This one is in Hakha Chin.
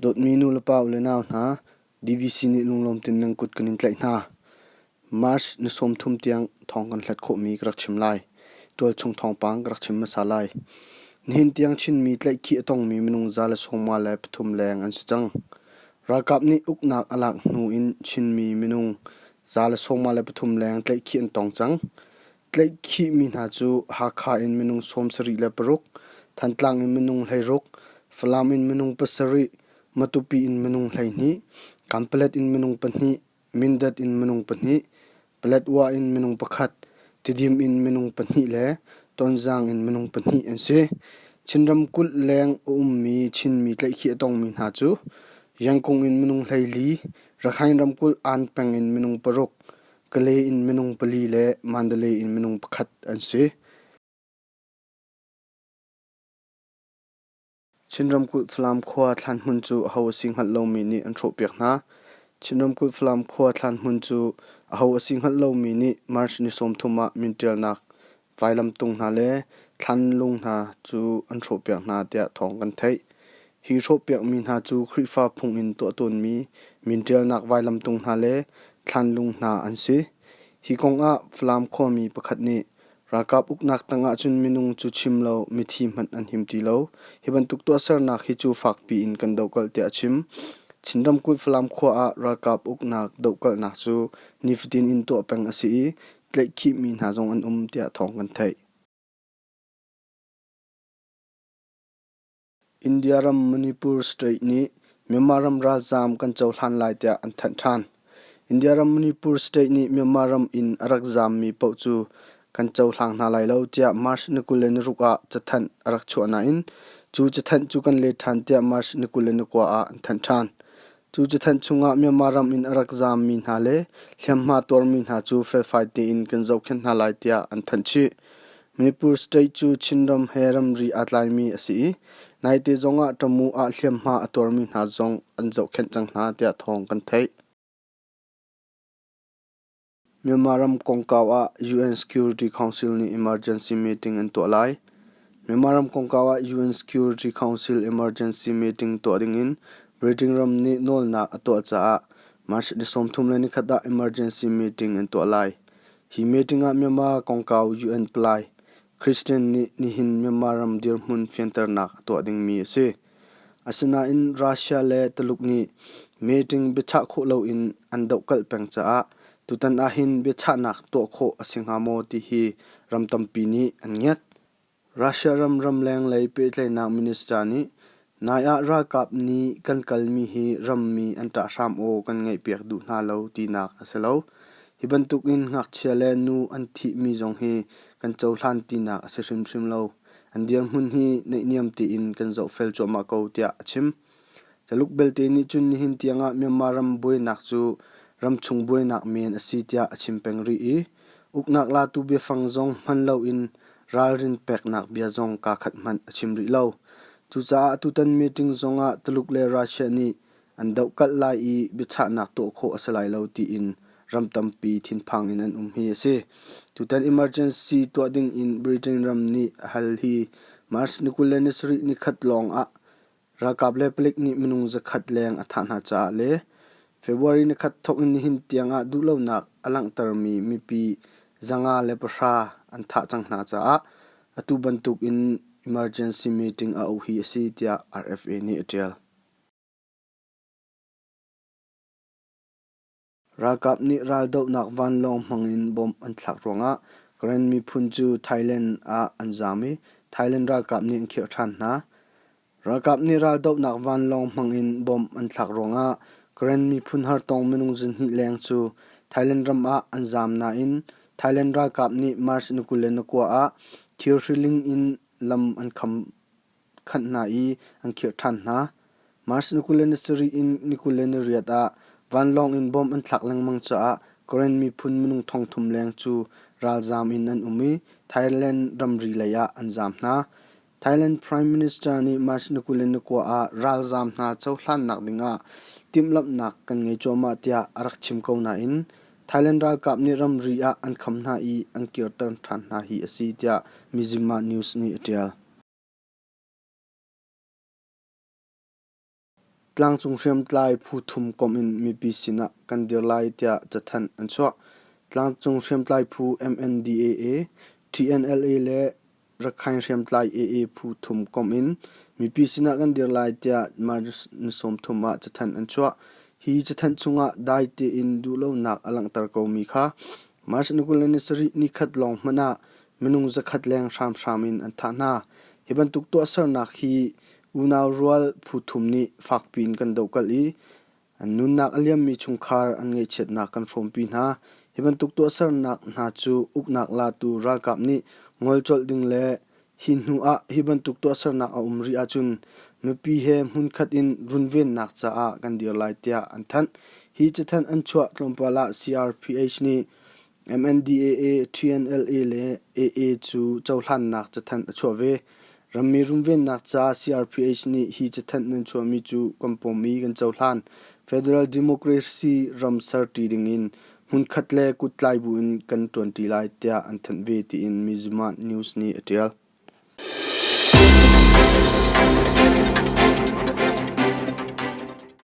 Dawtmi nulepa u le nau hna, DVC nih lunglawmtin nan kut kan in tlaih hna. March ni sawmthum tiang thawng kan hlat khawhmi ka rak chim lai. Tualchung thawngpang ka rak chim hmasa lai. Nihin tiang Chinmi tlaihkhih a tongmi minung za le sawmnga le pathum leng an si cang. Ralkap nih uknak a lak hnu in Chinmi minung Za le sawmnga le pathum leng tlaihkhih an tong cang. Tlaihkhihmi hna cu Hakha in minung sawmsarih le paruk, Thantlang in minung hleiruk, Falam in minung pasarih, Matupi in minung hleihnih, Kanpalet in minung pahnih, Mindat in minung pahnih, Paletwa in minung pakhat, Tidim in minung pahnih le Tonzang in minung pahnih an si. Chin ramkulh leng a ummi Chinmi tlaihkhih a tongmi hna cu Yangkung in minung hleili, Rakhine ramkulh An peng in minung paruk, Kale in minung pali le Mandalay in minung pakhat an si. Chin ramkulh Falam khua thlanhmun cu aho a si hngalh lomi nih an hrawhpiak hna. Chin ramkulh Falam khua thlanhmun cu aho a si hngalh lomi nih March ni sawmthum ah min ṭialnak Vailamtung hna le thlanlung hna cu an hrawhpiak hna tiah thawng kan theih. Hi hrawhpiakmi hna cu Khrihfa phung in tuah tawnmi min ṭialnak vailamtung hna le thlanlung hna an si. Hi kongah Falam khuami pakhat nih ralkap uknak tangah cun minung cu chim lo mithi hmanh an him ti lo. Hi bantuk tuahsernak hi cu fakpi in kan dohkalh tiah a chim. Chin ramkulh Falam khua ah ralkap uknak dohkalhnak cu nifatin in tuah peng a si i tlaihkhihmi hna zong an um tiah thawng kan theih. India ram Manipur state nih Myanmar ram ralzaam kan cohlan lai tiah an thanh ṭhan. India ram Manipur state nih Myanmar ram in a rak zaammi paoh cu kan cohlang hna lai lo tiah March ni kul le ni ruk ah cathanh a rak chuah nain cu cathanh cu kan let ṭhan tiah March ni kul le ni kua ah an thanh ṭhan. Cu cathanh chungah Myanmar ram in a rak zaammi hna le hliamhma tuarmi hna cu felfai tein kan zohkhenh hna lai tiah an thanh chih. Manipur state cu Chinram he ramri aa tlaimi a si i naite zongah Tamu ah hliamhma a tuarmi hna zong an zohkhenh cang hna tiah thawng kan theih. Myanmar ram kongkau ah UN Security Council nih emergency meeting an tuah lai. Myanmar ram kongkau ah UN Security Council emergency meeting tuah dingin Beijing ram nih nawlnak a tuah caah March ni sawmthum le nikhat ah emergency meeting an tuah lai. Hi meeting ah Myanmar kongkau UN palai, Christian nih nihin Myanmar ram dirhmun fianternak a tuah dingmi a si. Asinain Russia le Tuluk nih meeting biachah khawh loin an dohkalh peng caah tutan ahhin biachahnak tuah khawh a si hnga maw ti hi ram tampi nih an ngiat. Russia ram ramleng lei pehtlaihnak minister nih Nai ah ralkap nih kan kalmi hi rammi an ṭah hram aw kan ngaihpiak duh hna lo tinak a si lo. Hi bantuk in ngakchia le nu an thihmi zong hi kan cohlan tinak a si hrimhrim lo. An dirhmun hi neihniam tein kan zohfel cuahmah ko tiah a chim. Caluk belte nih cun nihin tiangah Myanmar ram buainak cu ramchung buainak men a si tiah a chim peng rih i Uknak latu biafang zong hman loin ralrin peknak bia zong kaa khat hmanh a chim rih lo. Cucaah atutan meeting zongah Tuluk le Russia nih an dohkalh lai i biachahnak tuah khawh a si lai lo tiin ram tampi thinphang in an um hi a si. Tutan emergency tuah ding in Britain ram nih a hal hi March ni kul le ni sarih ni khat lawng ah Ralkap le palik nih minung zakhat leng a thah hna caah le February nikhat thawk in nihin tiangah duhlonak a langhtermi mipi zanga le pahra an thah cang hna caah atu bantukin emergency meeting a auh hi a si tiah RFA nih a ṭial. Ralkap nih raldohnak vanlawng hmang in bom an thlak ruangah Karen miphun cu Thailand ah an zaam i Thailand ralkap nih an khirh ṭhan hna. Ralkap nih raldohnak vanlawng hmang in bom an thlak ruangah Karen miphun hartong minung zihnih leng cu Thailand ram ah an zaam nain Thailand ralkap nih March ni kul le ni kua ah thir hriling in lam an kham. khanh hna i an khirh ṭhan hna. March ni kul le ni sarih in ni kul le ni riat ah vanlawng in bom an thlak lengmang caah Karen miphun minung thong thum leng cu ralzaam in an um i Thailand ramri lei ah an zaam hna. Thailand Prime Minister nih March ni kul le ni kua ah ralzaam hna cohlannak ding ah timhlamhnak kan ngei cuahmah tiah a rak chim ko nain Thailand ralkap nih ramri ah an kham hna i an kirter ṭhan hna hi a si tiah Mizzima News nih a ṭial. Tlangcung hriamtlai phu thum komh in mipi sinah kan dir lai tiah cathanh an chuah. Tlangcung hriamtlai phu MNDAA, TNLA le Rakhain hriamtlai AA phu thum komh in mipi sinah kan dir lai tiah March ni sawm thum ah cathanh an chuah. Hi cathanh chungah dai tein duhlonak a langhter komi kha March ni kul le ni sarih ni khat lawng hmanh ah minung zakhat leng hramhram in an thah hna. Hi bantuk tuahsernak hi unau rual phu thum nih fakpi in kan dohkalh i an nunnak a liammi chungkhar an ngaihchiatnak kan hrawmpi hna. Hi bantuk tuahsernak hna cu uknak latu ralkap nih ngol colh ding le hi hnu ah hi bantuk tuahsernak a um rih ahcun mipi he hmunkhat in runvennak caah kan dir lai tiah an thanh. Hi cathanh an chuah tlawmpal ah CRPH nih MNDAA TNLA le AA cu cohlannak cathanh a chuah ve. Rammi runvennak ca CRPH nih hi cathanh nan chuahmi cu kan pawm i kan cohlan. Federal Democracy ram serṭi dingin hmunkhat le kuttlai buin kan ṭuanṭi lai tiah an thanh ve tiin Mizumah News nih a ṭial.